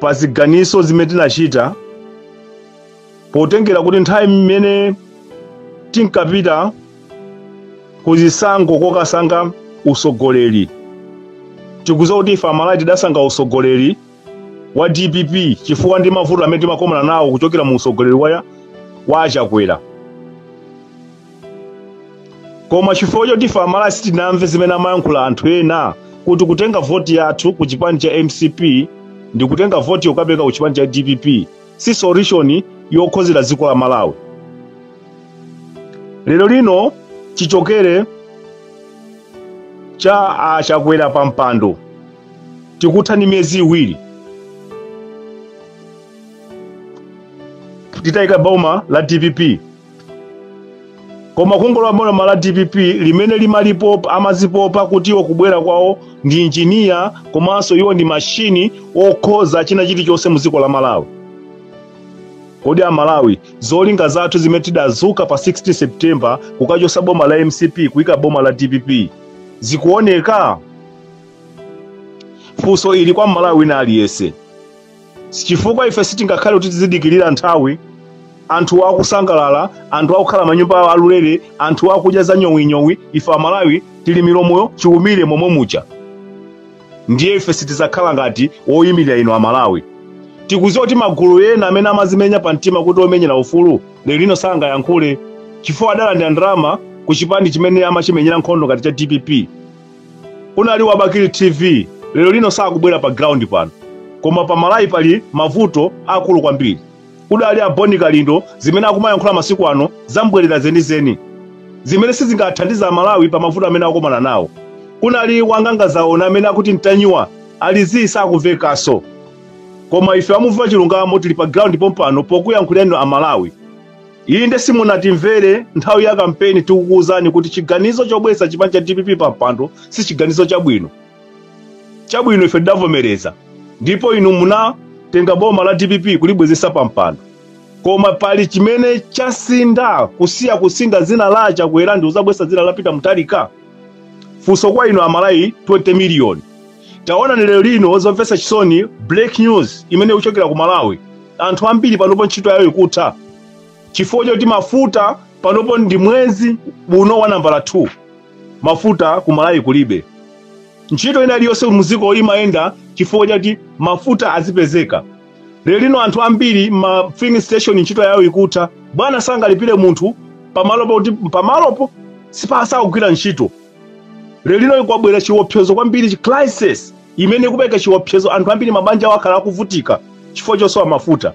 pa ziganizo zimene tinachita potengera kuti nthawi imene tinkapita ku zisankho kokasankha usogoleri tikuziwa kuti ife amalawi tidasankha usogoleri wa dpp chifukwa ndi mavuto amene timakomana nawo kuchokera mu usogoleri wa achakwera koma chifukwa choti ife amalawi sitinamve zimene amayankhula anthu ena kuti kutenga voti yathu ku chipani cha mcp ndi kutenga voti yokapereka ku chipani cha dpp si solution yokhozera dziko la malawi lero lino chichokere cha achakwera pa mpando tikuthano miyezi iwiri titayika boma la dpp koma kungolowa boma la dpp limene limazipopa amazipopa kuti iwo kubwera kwawo ndi injiniya komanso iwo ndi mashini okhoza china chilichonse mu dziko la malawi kodi amalawi zolinga zathu zimene tidazuka pa 16 september kukachosa boma la mcp kuyika boma la dpp zikuoneka funso ili kwa mmalawi wina aliyense chifukwa ife sitingakhale kuti tizidikirira nthawi anthu akusangalala anthu akukhala manyumba awo alulere anthu akudya za nyowinyowi ife amalawi tili milomoyo chiumire momwe muja ndiye ife sitizakhala ngati woyimirira inu amalawi tikuziwa kuti magulu ena amene amazimenya pa mtima kuti omenyera ufulu lero lino sangayankhule chifukwa adalandira ndalama ku chipani chimene amachimenyera nkhondo ngati cha dpp Kunali wa Bakili TV lero lino sakubwera pa ground pano. Koma pa Malawi pali mavuto akulu kwambiri. Kunali a Boni Kalindo zimene akumayankhula masiku ano zambwerera zenizeni. Zimene sizingathandize a Malawi pa mavuto amene akomana nawo. Kunali wanganga zaona amene akuti Ntanyiwa ali zii sakuvekaso. Koma ife a Muvi wa Chilungamo tili pa ground pompano pokuyankhulirani a Malawi. inde simunatimvere nthawi ya kampeni tikukuwuzani kuti chiganizo chobweresa chipani cha dpp pa mpando si chiganizo chabwino chabwino ife tidavomereza ndipo inu munatenga boma la dpp kulibwezesa pa mpando koma pali chimene chasintha kusiya kusintha dzina la achakwera ndi kuzabwesa dzina la peter mutharika funso kwa inu amalawi 20 miliyoni taonani lero lino zomvetsa chisoni break news imene ikuchokera ku malawi anthu ambiri panopo ntchito yawo ikutha chifukwa chakuti mafuta panopo ndi mwezi uno wa nambala 2 mafuta ku malawi kulibe ntchito ina iliyonse muziko imayenda chifukwa chakuti mafuta azipezeka lero lino anthu ambiri ma filling station ntchito yawo ikutha bwana sangalipire munthu pamalopo kuti pamalopo sipasakugwira ntchito lelino ikwabwera chiopsezo kwambiri chi crisis imene ikupereka chiopsezo anthu ambiri mabanja awo akhala akuvutika chifukwa chosowa mafuta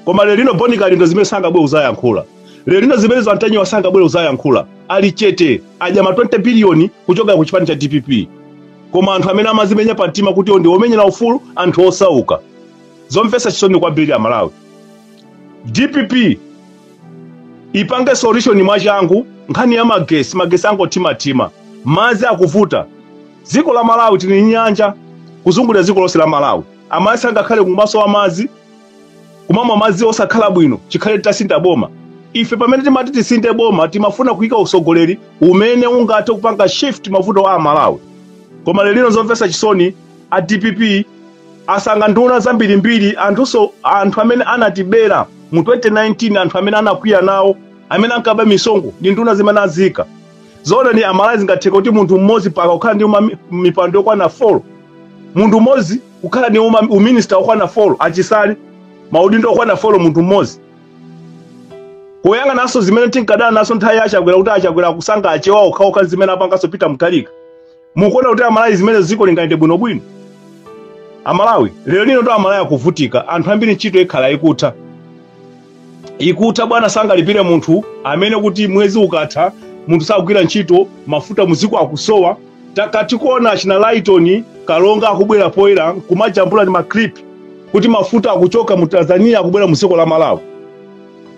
koma lelino bon kalindo zimene sangabwere kuzayankhula lelino zimene za mtanyiwa sangabwere kuzayankhula ali chete adya ma 20 biliyoni kuchokera ku chipani cha dpp koma anthu amene amazimenya pa mtima kuti ndi omenyera ufulu anthu osauka zomvetsa chisoni kwambiri amalawi dpp ipange solution mwachangu nkhani ya magesi magesi angothimathima mazi akuvuta dziko la malawi tili ndi nyanja kuzungulira dziko lonse la malawi amayi sangakhale kumasowa mazi kumamwa mazi osakhala bwino chikhale titasintha boma ife pamene timati tisinthe boma timafuna kuyika usogoleri umene ungathe kupanga shift mavuto a amalawi koma lero lino zomvetsa chisoni a dpp asanga nduna zambirimbiri anthunso anthu amene anatibera mu 2019 anthu amene anakwiya nawo amene ankaba misonkho ndi nduna zimene aziika zoona amalawi zingatheka kuti munthu mmodzi paka kukhala ndi uma- mipando yokwana 4 munthu mmodzi kukhala ndi uma- uminista okwana 4 achisale maudindo okwana 4 munthu mmodzi kuyang'ananso zimene tinkadana nazo nthawi ya achakwera kuti achakwera akusanga achewa okhaokha zimene apanganso peter mutharika mukuona kuti amalawi zimene dziko lingayende bwinobwino amalawi lero lino to amalawi akuvutika anthu ambiri ntchito ikhala ikutha ikutha bwana sangalipire munthu amene kuti mwezi ukatha munthu sakugwira ntchito mafuta mudziko akusowa takati kuona achina lighton kalonga akubwera poyera kumajambula ndi maklip kuti mafuta akuchoka mu tanzania akubwera mu dziko la malawi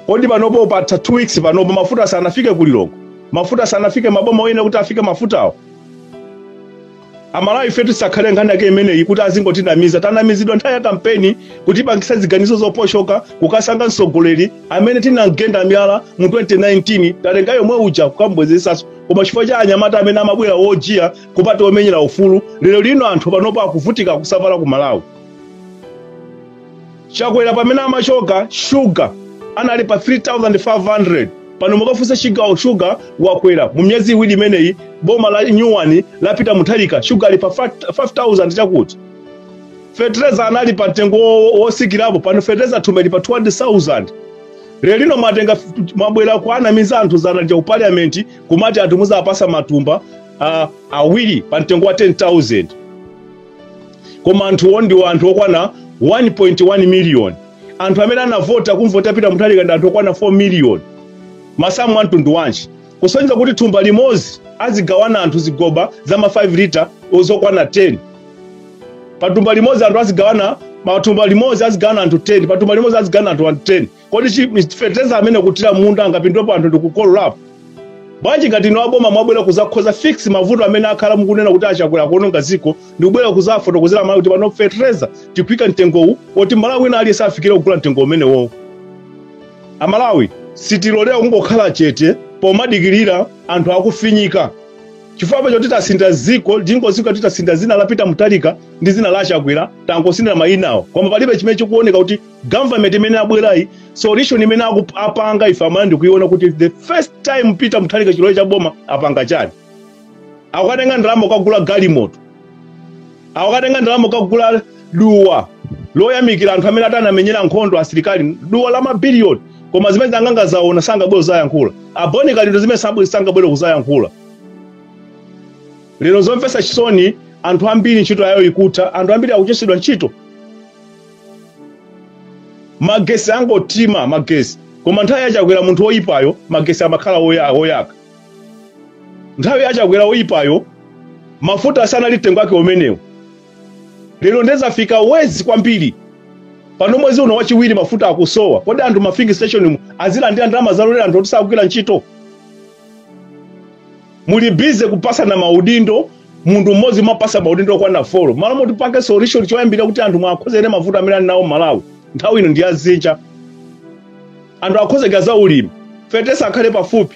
kodi panopo patha 2 weeks panopo mafuta sanafike ku lilongwe mafuta sanafike maboma oyene kuti afike mafutawo amalawi ifetu isakhale nkhani yake imeneyi kuti azingotinamiza tanamizidwa nthawi ya kampeni kutipangisa ziganizo zoposhoka kukasanga mtsogoleri amene tinamgenda miyala mu 2019 tatenga yomwe uja kukambwezesaso koma chifukwa cha anyamata amene amabwera wojiya kuti omenyera ufulu lero lino anthu panopo akuvutika kusavala ku malawi chakwera pamene amachoka shuga anali pa 3500 pano mukafunsa chigawo shuga wakwera mu miyezi iwiri imeneyi boma la nyuwani la peter mutharika shuga ali pa 5000 chakuti fetereza anali pa mtengo wo- wosikirapo pano fetereza thumba lili pa 200000 lero lino mwatenga f- mwabwera kuanamiza anthu dzana lija ku parliament kumati anthu muzapasa matumba uh, awiri pa mtengo wa 10000 koma anthuwo ndi anthu okwana 1.1 miliyoni anthu amene anavota kumvota peter mutharika ndi anthu okwana 4 miliyoni masamu a mtundu wanji kusonyeza kuti thumba limodzi azigawana anthu zigoba za ma 5 lita zokwana 10 pathumba limodzi anthu azigawana pathumba limodzi azigawana anthu 10 pathumba limodzi azigawana anthu 10 kodi chi- mis- fertilizer amene akathira munda angapindulepo anthu ndikukololapo bwanji ngati ino aboma mwabwera kuzakonza fix mavuto amene mwakhala mukunena kuti achakwera kuononga dziko ndikubwera kuzafotokozera malawi kuti pano fertilizer tikuika mtengowu oti malawi wina aliyense afikire kugula mtengo umenewowo amalawi sitilolera kungokhala chete kumadikirira anthu akufinyika chifukwa choti titasintha ziko ziko titasintha zina la peter mutharika ndi zina la chakwera tangosintha mayinawo koma palibe chimene chikuoneka kuti government imene abwerayi solution imene aku- apanga ife amene tikuiona kuti the first time peter mutharika chilowere cha boma apanga chani akukatenga ndalama kukagula galimoto akukatenga ndalama kukagula duwa loyamikira anthu amene atanamenyera nkhondo asilikali duwa la mabiliyoni koma zimene anaganiza zoona sangabwere kuzayankhula a bon kalindo zimene sabwe- sangabwere kuzayankhula lero zomvetsa chisoni anthu ambiri ntchito yawo ikutha anthu ambiri akuchotsedwa ntchito magesi akungothima magesi koma nthawi yachakwera munthu woyipayo magesi amakhala woya- woyaka nthawi yachakwera woyipayo mafuta asanali mtengo wake umenewo lero nde zafika worse kwambiri pano mwezi uno wachiwiri mafuta akusowa kodi anthu ma filling station mu azilandira ndalama zalolera anthu oti sakugwira ntchito muli bize kupasana maudindo munthu mmodzi mwapasa maudindo okwana folo malo moti mupange solution choyambira kuti anthu muwakonzere mavuto amene ali nawo malawi nthawi ino ndi yadzinja anthu akonzeke za ulimi fertilizer akhale pafupi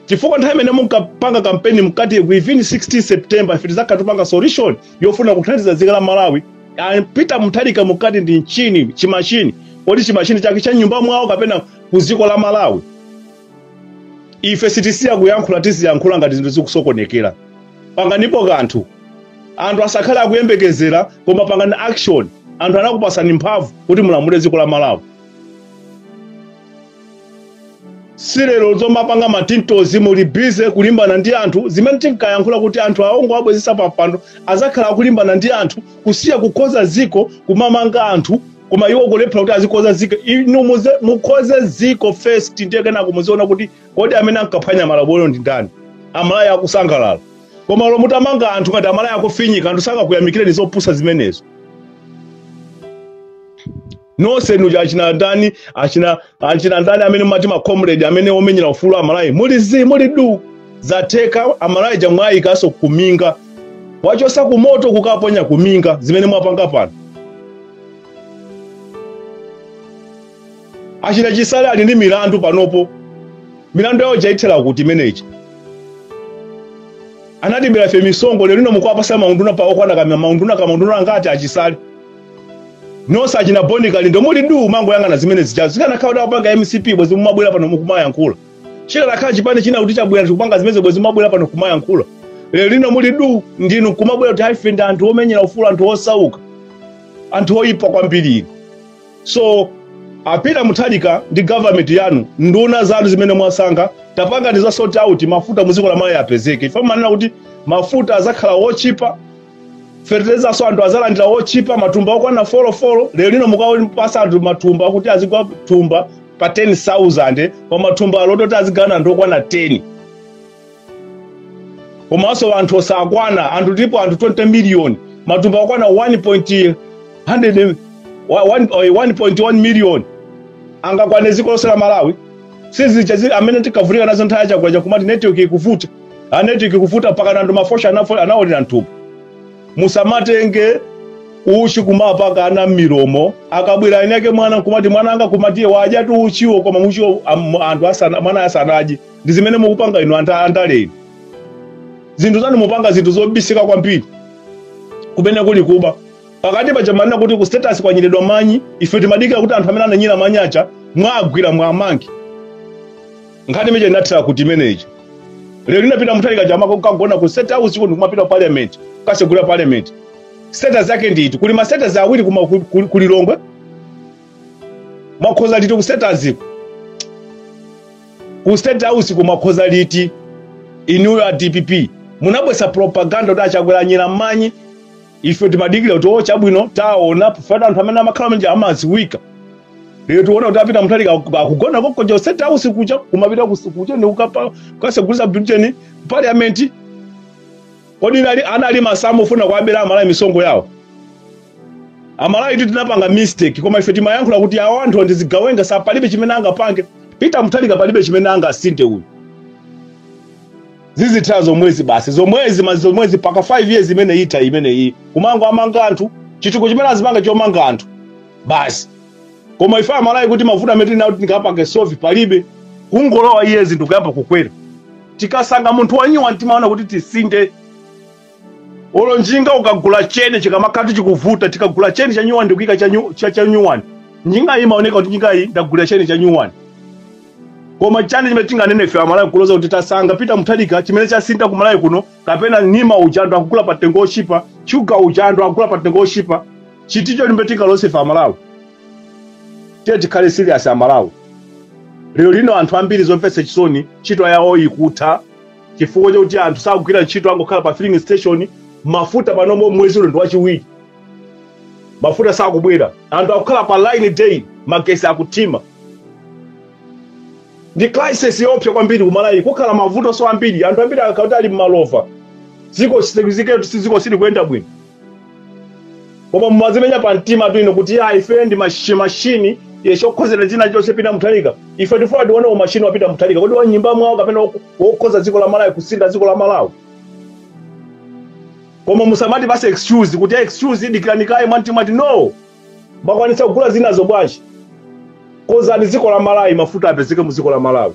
chifukwa nthawi imene munkapanga kampeni munkati within 16 september ife tizakhala tikupanga solution yofuna kuthandiza dziko la malawi Ah, peter mutharika munkati ndi machine chimashini kodi chimashini chake cha mnyumba mwawo kapena ku dziko la malawi ife sitisiya kuyankhula tiziyankhula ngati zinthu zikusokonekera panganipo kanthu anthu asakhale akuyembekezera koma pangani action anthu anakupasani mphamvu kuti mulamule dziko la malawi si lero zomapanga matintozo muli bize kulimbana ndi anthu zimene tinkayankhula kuti anthu awa mukawabwezesa pampando azakhala akulimbana ndi anthu kusiya kukonza dziko kumamanga anthu koma iwo kulephera kuti azikonza ziko inu muze- mukonze ziko first ndiye kenako muziona kuti kodi amene ankaphwanya malamulo ndi ndani amalawi akusangalala koma olo mutamanga anthu ngati amalawi akufinyika anthu sakakuyamikireni zopusa zimenezo nonse nuja achina ndani achina achina ndani amene mumati macomrade amene omenyera ufulu amalawi muli zi muli du zatheka amalawi aja mwayikanso kuminga mwachosa kumoto kukaponya kuminga zimene mwapanga pano achina chisale ali ndi milandu panopo milandu yawo yathera kuti imeneyi anatibera ife misonkho lero lino mukuwapasa maunduna pa okwana kama maunduna kama maunduna angati achisale nonse achina boni kalindo muli du mangoyang'ana zimene zija zikanakhala kuti akupanga mcp bwezi mukumabwera pano mukumayankhula chikanakhala chipani china kuti chabwera chikupanga zimene bwezi mumabwera pano kumayankhula lero lino muli du ndinu kumabwera kuti ife ndi anthu omenyera ufulu wa anthu osauka anthu oyipa kwambiri inu so a peter mutharika ndi government yanu nduna zanu zimene mwasankha tapangani za sort out mafuta muziko la malawi apezeke ife mumanena kuti mafuta azakhala otchipa fertilizernso anthu azalandira yotchipa matumba okwana folo folo lero lino mukuwapatsa anthu matumba kuti azigula thumba pa 10000 pa matumba awiri kuti azigawana anthu okwana 10 komanso anthu osakwana anthu tilipo anthu 20 miliyoni matumba okwana 1.100 wa- one- eh, 1.1 miliyoni angakwane dziko lonse la malawi sizicha zi- zimene tinkavutika nazo nthawi ya chakwera kumati network ikuvuta network ikuvuta mpaka ndi ma voucher anafo- anaolera mthumba musamatenge uchi kumapaka ana mmilomo akabwera mwini wake mwana nkumati mwana anga kumati eh wadyatu uchiwo koma muchiwo am- anthu asana mwana asanadye ndi zimene mukupanga inu anda- andale inu zinthu zanu mukupanga zinthu zobisika kwambiri kumene kuli kuba pakati paja mumanena kuti ku state house kwanyeredwa manyi ife timadikira kuti anthu amene ananyera manyi aja mwawagwira mwawamanga nkhani imene ija inathera kuti imeneyi lero lino a peter mutharika akumakagona ku state house kuno kumapita ku parliament kukasegula parliament state house yake ndi iti kuli ma state house awiri kuma ku- ku- ku lilongwe mwakonza liti ku status ku state house ko mwakonza liti inuyo a dpp munabweretsa propaganda kuti achakwera anyera manyi ife timadikira kuti o chabwino tiona chifukwa anthu amene amalakwa aja amaziwika lero tikuona kuti a peter mutharika akugona konkuja ku state house kucha kumapita kukucha ndi kupita kasegulitsa building parliament kodi nali anali masamu ofuna kuabera amalawi misonkho yawo amalawitu tinapanga mistake koma ife timayankhula kuti awo anthu ndi zigawenga za palibe chimene angapange peter mutharika palibe chimene angasinthe uyu zizitha zomwezi basi zomwezi ma- zomwezi paka 5 years imene itha imeneyi kumangowamanga anthu chitukuko chimene azipanga chomanga anthu basi koma ife amalawi kuti mavuto amene tili nawo tingapange solve palibe kungolowa iye zinthu kuyamba kukwera tikasankha munthu wanyuwani timaona kuti tisinthe olo njinga ukagula cheni chikamakhatu chikuvuta tikagula cheni cha nyuwani ndikuika cha nyu- cha- cha nyuwani njinga iyi imaoneka kuti njinga iyi ndagulira cheni cha nyuwani koma chani chimene tinganene ife amalawi kuloza kuti tasankha pita muthalika chimene chasintha ku malawi kuno kapena nsima ija anthu akugula pa mtengo ochipa shuga uja anthu akugula pa mtengo ochipa ndi chiti icho chimene tingaloze ife amalawi tiye tikhale serious amalawi lero lino anthu ambiri zomvetsa chisoni ntchito yawo ikutha chifukwa chakuti anthu sakugwira ntchito angokhala pa filling station mafuta panomo mwezi uno ndi wachiwiri mafuta sakubwera anthu akukhala pa line day magesi akuthima ndi crisis yoopsa kwambiri ku malawi kukhala mavuto so ambiri anthu ambiri akakhala kuti ali malova dziko dziko silikuyenda bwino koma mumazimenya pa mtima tu inu kuti ya ife ndi mashi- mashini eh, okonzera china chonse pita muthalika ife tifuna tione umashini wapita muthalika kodi wa m'nyumba mwawo kapena wok- wokonza dziko la malawi kusintha dziko la malawi koma musamati basi excuse kuti ya excuse dikirani kaye mumtima ati no makwanisa kugula zinazo bwanji konzani dziko la malawi mafuta apezeke mu dziko la malawi